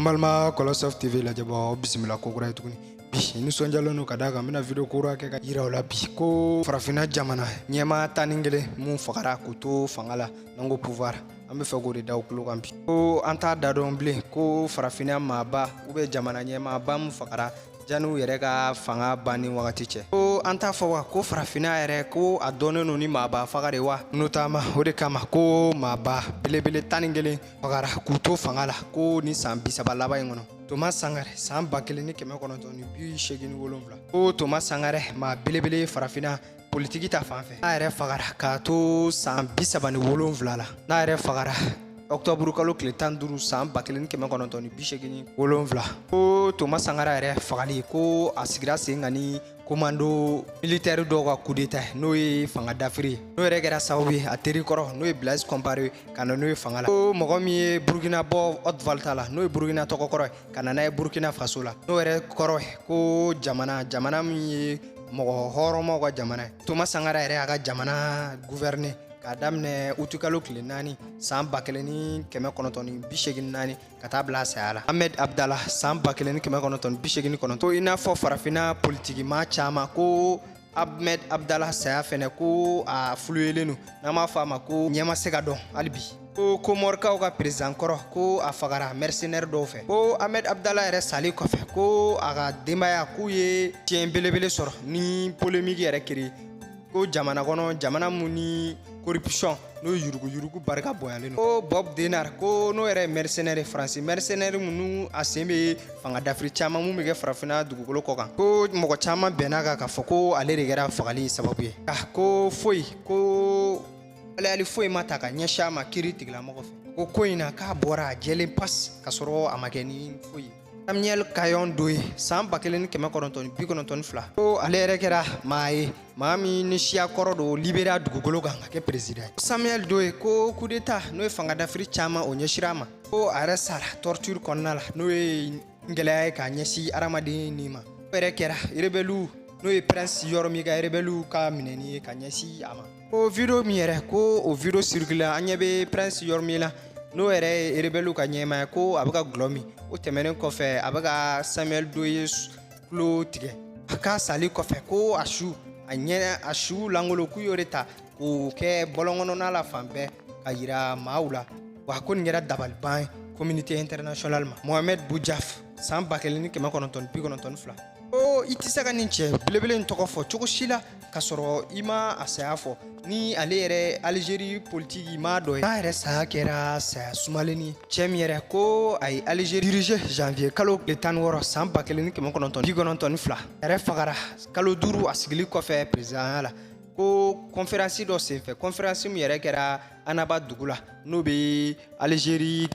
balima kolosoft tv lajɛbaw bisimila ko kura ye tuguni bi nisɔnjalen don ka d'a kan n bɛna video kura kɛ ka yira aw la bi ko farafinna jamana ɲɛmaa tan ni kelen mun fagara k'u to fanga la n'an ko pouvoir an b'a fɛ k'o de da aw tulo kan bi ko an t'a da dɔn bilen ko farafinna maaba u bɛ jamana ɲɛmaaba min fagara jani u yɛrɛ ka fanga banni wagati cɛ ko an t'a fɔ wa ko farafinna yɛrɛ ko a dɔnnen don ni maaba faga de wa notamment o de kama ko maaba belebele tan ni kelen fagara k'u to fanga la ko nin san bisaba laban in kɔnɔ toma sankara san ba kelen ni kɛmɛ kɔnɔntɔn ni bi seegin ni wolonfila ko toma sankara maa belebele farafinna politigi ta fan fɛ n'a yɛrɛ fagara k'a to san bi saba ni wolonfila la n'a yɛrɛ fagara ɔktɔburu kalo tile tan duuru san ba kelen ni kɛmɛ kɔnɔntɔn ni bi seegin ni wolonfila ko toma sankara yɛrɛ fagali ko a sigira sen kan ni komando militɛri dɔw ka kudeta n'o ye fanga dafiri ye n'o yɛrɛ kɛra sababu ye a teri kɔrɔ n'o ye blaise compaoré ka na n'o ye fanga la ko mɔgɔ min ye burukina bɔ haute volta la n'o ye burukina tɔgɔ kɔrɔ ye ka na n'a ye burkina faso la n'o yɛrɛ kɔrɔ ko jamana jamana min ye mɔgɔ hɔrɔnmaw ka jamana ye toma sankara yɛrɛ y'a ka jamana guvɛrine k'a daminɛ utukalo tile naani san ba kelen ni kɛmɛ kɔnɔntɔn ni bi seegin naani ka taa bila a saya la ahmed abdala san ba kelen ni kɛmɛ kɔnɔntɔn ni bi seegin kɔnɔntɔn i n'a fɔ farafinna politikimaa caaman ko Ahmed Abdallah saya fɛnɛ ko a fuluyelen don n'an b'a fɔ a ma ko ɲɛ ma se ka dɔn hali bi ko komɔrikaw ka perezidan kɔrɔ ko a fagara mɛrisenɛri dɔw fɛ ko ahmed abdala yɛrɛ sali kɔfɛ ko a ka denbaya k'u ye tiɲɛ belebele sɔrɔ ni polemiki yɛrɛ kiri ko jamana kɔnɔ jamana mun ni corruption n'o ye yuruguyurugu barika bonyalen ko bob denard ko n'o yɛrɛ ye mercenaire faransi mercenaire minnu a sen bɛ fanga dafiri caman mun bɛ kɛ farafinna dugukolo kɔ kan ko mɔgɔ caman bɛnna a kan k'a fɔ ko ale de kɛra fagali sababu ye nka ko foyi ko alayali foyi ma ta ka ɲɛsin a ma kiritigɛlamɔgɔ fɛ ko ko in na k'a bɔra a jɛlen pas k'a sɔrɔ a ma kɛ ni foyi ye Samuel Kanyon Doe san ba kelen ni kɛmɛ kɔnɔntɔn ni bi kɔnɔntɔn ni fila ko ale yɛrɛ kɛra maa ye maa min ni siya kɔrɔ don liberia dugukolo kan ka kɛ perezidan ye samuel doe ko kudeta n'o ye fangadafiri caman o ɲɛsira a ma ko a yɛrɛ sara torture kɔnɔna la n'o ye gɛlɛya ye ka ɲɛsin adamaden ni ma o yɛrɛ kɛra rebɛliw n'o ye prince yormie ka rebɛliw ka minɛni ye ka ɲɛsin a ma ko video min yɛrɛ ko o video circulé an ɲɛ bɛ prince yormie la n'o yɛrɛ ye rebɛliw ka ɲɛmaa ye ko a bɛ ka dɔlɔ min o tɛmɛnen kɔfɛ a bɛ ka samuel doe tulo tigɛ a ka sali kɔfɛ ko a su a ɲɛ a su langolo k'u y'o de ta k'o kɛ bɔlɔnkɔnɔna la fan bɛɛ ka yira maaw la wa ko nin kɛra dabaliban ye communauté internationale ma mohamed boudiaf san ba kelen ni kɛmɛ kɔnɔntɔn bi kɔnɔntɔn ni fila ko i tɛ se ka nin cɛ belebele in tɔgɔ fɔ cogo si la ka sɔrɔ i ma a saya fɔ ni ale yɛrɛ alizeri politiki maa dɔ ye k'a yɛrɛ saya kɛra saya sumalen ye cɛ min yɛrɛ ko a ye alizeri dirige janvier kalo tile tan ni wɔɔrɔ san ba kelen ni kɛmɛ kɔnɔntɔn bi kɔnɔntɔn ni fila a yɛrɛ fagara kalo duuru a sigili kɔfɛ perezidanya la ko kɔnferansi dɔ senfɛ kɔnferansi min yɛrɛ kɛra annaba dugu la n'o bɛ alizeri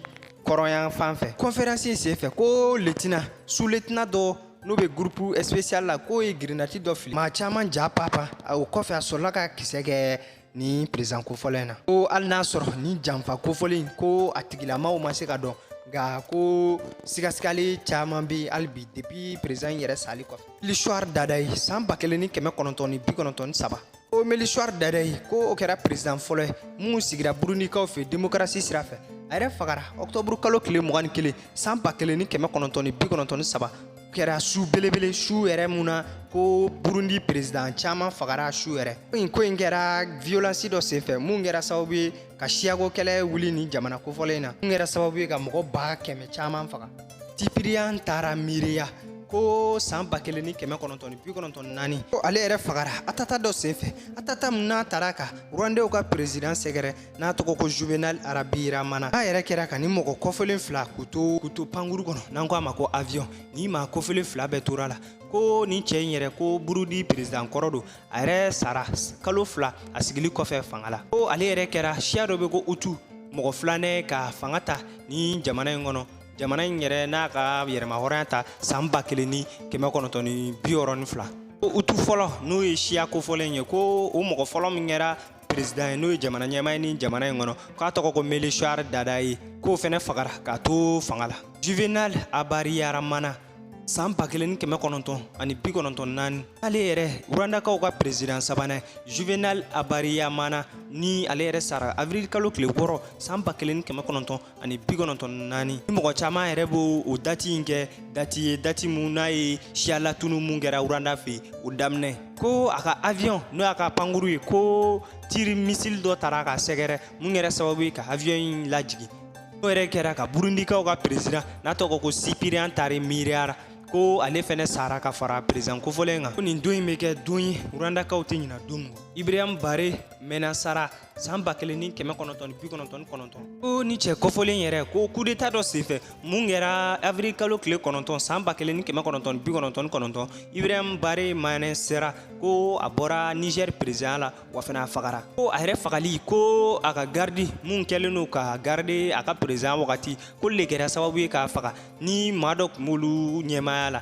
kɔrɔnyanfan fɛ kɔnferansi in senfɛ ko letina su letina dɔ n'o bɛ gurupu espesiyali la k'o ye girinati dɔ fili maa caman japapa o kɔfɛ a sɔrɔla ka kisɛ kɛ nin perezidan kofɔlen na ko hali n'a sɔrɔ nin janfa kofɔlen ko a tigilamaw ma se ka dɔn nka ko sigasigali caman bɛ hali bi depi perezidan yɛrɛ sali kɔfɛ melchior ndadaye san ba kelen ni kɛmɛ kɔnɔntɔn ni bi kɔnɔntɔn ni saba ko melchior ndadaye ko o kɛra peresidan fɔlɔ ye min sigira burundikaw fɛ demokarasi sira fɛ a yɛrɛ fagara ɔkutɔburu kalo tile mugan ni kelen san ba kelen ni kɛmɛ kɔnɔntɔn ni bi kɔnɔntɔn ni saba kɛra su belebele su yɛrɛ mun na ko burundi peresidan caman fagara su yɛrɛ in ko in kɛra viyolansi dɔ senfɛ mun kɛra sababu ye ka siyako kɛlɛ wuli nin jamana kofɔlen na mun kɛra sababu ye ka mɔgɔ ba kɛmɛ caman faga cyprien ntaryamira ko san ba kelen ni kɛmɛ kɔnɔntɔn ni bi kɔnɔntɔn ni naani ko ale yɛrɛ fagara attentat dɔ senfɛ attentat min n'a taara ka rwandew ka perezidan sɛgɛrɛ n'a tɔgɔ ko juvenal habyarimana a yɛrɛ kɛra ka nin mɔgɔ kofɔlen fila k'u to pankuru kɔnɔ n'an ko a ma ko avion nin maa kofɔlen fila bɛɛ tora a la ko nin cɛ in yɛrɛ ko burundi perezidan kɔrɔ don a yɛrɛ sara kalo fila a sigili kɔfɛ fanga la ko ale yɛrɛ kɛra siya dɔ bɛ ko hutu mɔgɔ filanan ka fanga ta nin jamana in kɔnɔ jamana in yɛrɛ n'a ka yɛrɛmahɔrɔnya ta san ba kelen ni kɛmɛ kɔnɔntɔn ni bi wɔɔrɔ ni fila hutu fɔlɔ n'o ye siya kofɔlen ye ko o mɔgɔ fɔlɔ min kɛra peresidan ye n'o ye jamana ɲɛmaa ye nin jamana in kɔnɔ k'a tɔgɔ ko melchior ndadaye k'o fɛnɛ fagara k'a to fanga la juvenal habyarimana saan ba kelen ni kɛmɛ kɔnɔntɔn ani bi kɔnɔntɔn naani ale yɛrɛ rwandakaw ka peresidan sabanan juvenal habyarimana ni ale yɛrɛ sara avril kalo tile wɔɔrɔ saan ba kelen ni kɛmɛ kɔnɔntɔn ani bi kɔnɔntɔn naani ni mɔgɔ caaman yɛrɛ b'o o dati in kɛ dati ye dati mun n'a ye siya latunu mun kɛra uranda fɛ o daminɛ ko a ka avion n'o y'a ka pankuru ye ko tiri misili dɔ tara k'a sɛgɛrɛ mun kɛra sababu ye ka avion in lajigin o yɛrɛ kɛra ka burundikaw ka peresidan n'a tɔgɔ ko sipiriyan tari miiriyara ko ale fɛnɛ sara ka fara perezan kofɔlen kan ko nin don in bɛ kɛ don ye urandakaw tɛ ɲina don min kɔ ibrahim bare mɛnasara san ba kelen ni kɛmɛ kɔnɔntɔn ni bi kɔnɔntɔn ni kɔnɔntɔn ko nin cɛ kofɔlen yɛrɛ ko kudeta dɔ senfɛ mun kɛra avril kalo tile kɔnɔntɔn san ba kelen ni kɛmɛ kɔnɔntɔn ni bi kɔnɔntɔn ni kɔnɔntɔn ibrahim bare mɛnasara ko a bɔra niger perezidanya la wa fana a fagara ko a yɛrɛ fagali ko a ka garidi mun kɛlen don k'a garide a ka perezan wagati ko u le kɛra sababu ye k'a faga ni maa dɔ tun b'olu ɲɛmaaya la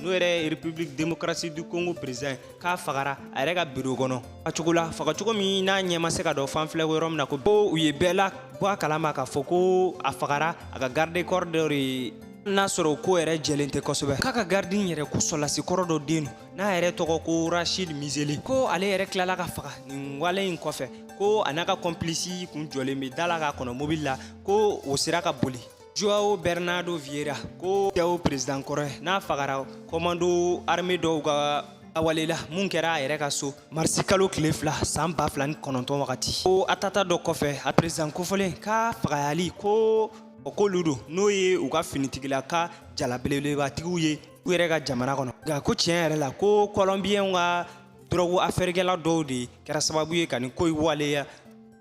n'o yɛrɛ ye republique démocratique du congo président k'a fagara a yɛrɛ ka biro kɔnɔ fagacogo la fagacogo min n'a ɲɛ ma se ka dɔn fan filɛ ko yɔrɔ min na ko u ye bɛɛ labɔ a kalama k'a fɔ ko a fagara a ka garde corps dɔ de n'a sɔrɔ o ko yɛrɛ jɛlen tɛ kosɛbɛ k'a ka garidi in yɛrɛ ko sɔlasi kɔrɔ dɔ den don n'a yɛrɛ tɔgɔ ko rashid mizele ko ale yɛrɛ tilala ka faga nin wale in kɔfɛ ko a n'a ka kɔnpilisi kun jɔlen bɛ da la k'a kɔnɔ mobili la ko o sera ka boli Joao Bernardo Vieira ko Joao president kɔrɔ n'a fagara komando armée dɔw ka wale la mun kɛra a yɛrɛ ka so marisi kalo tile fila san ba fila ni kɔnɔntɔn wagati ko atanta dɔ kɔfɛ a president kofɔlen k'a fagayali ko o k'olu don n'o ye u ka finitigila ka jala belebelebatigiw ye u yɛrɛ ka jamana kɔnɔ nka ko tiɲɛ yɛrɛ la ko kɔlɔnbiyɛnw ka dɔrɔgu afɛrikɛla dɔw de kɛra sababu ye ka nin ko in waleya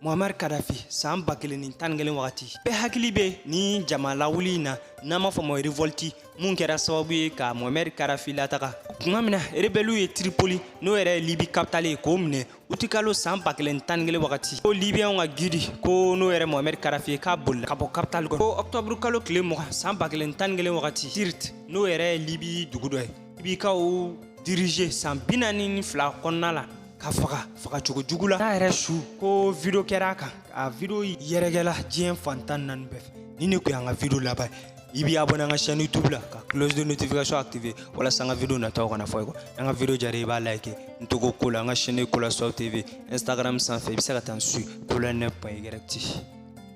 Mohamari Kadafi san ba kelen ni tan ni kelen wagati bɛɛ hakili bɛ nin jama lawuli in na n'an b'a fɔ ma revolte mun kɛra sababu ye ka Mohamari Kadafi lataga tuma min na rebɛliw ye Tripoli n'o yɛrɛ ye Libi kapitale ye k'o minɛ utikalo san ba kelen ni tan ni kelen wagati ko libiyɛnw ka gidi ko n'o yɛrɛ Mohamari Kadafi ye k'a bolila ka bɔ kapitali kɔnɔ ko ɔkutɔburu kalo tile mugan san ba kelen ni tan ni kelen wagati Sirte n'o yɛrɛ ye Libi dugu dɔ ye libikaw dirige san bi naani ni fila kɔnɔna la ka faga faga cogo jugu la n'a yɛrɛ su ko video kɛra a kan a video yɛrɛkɛla diɲɛ fan tan naani bɛɛ fɛ nin ne kun y'an ka video laban ye b'i abonné an ka chaîne youtube la ka cloche de notification activé walasa an ka video nataw kana fɔ i kɔ an ka video diyara i b'a like n tɔgɔ kola an ka chaîne kola sow tv instagram sanfɛ i bɛ se ka taa n suivre kola nɛ point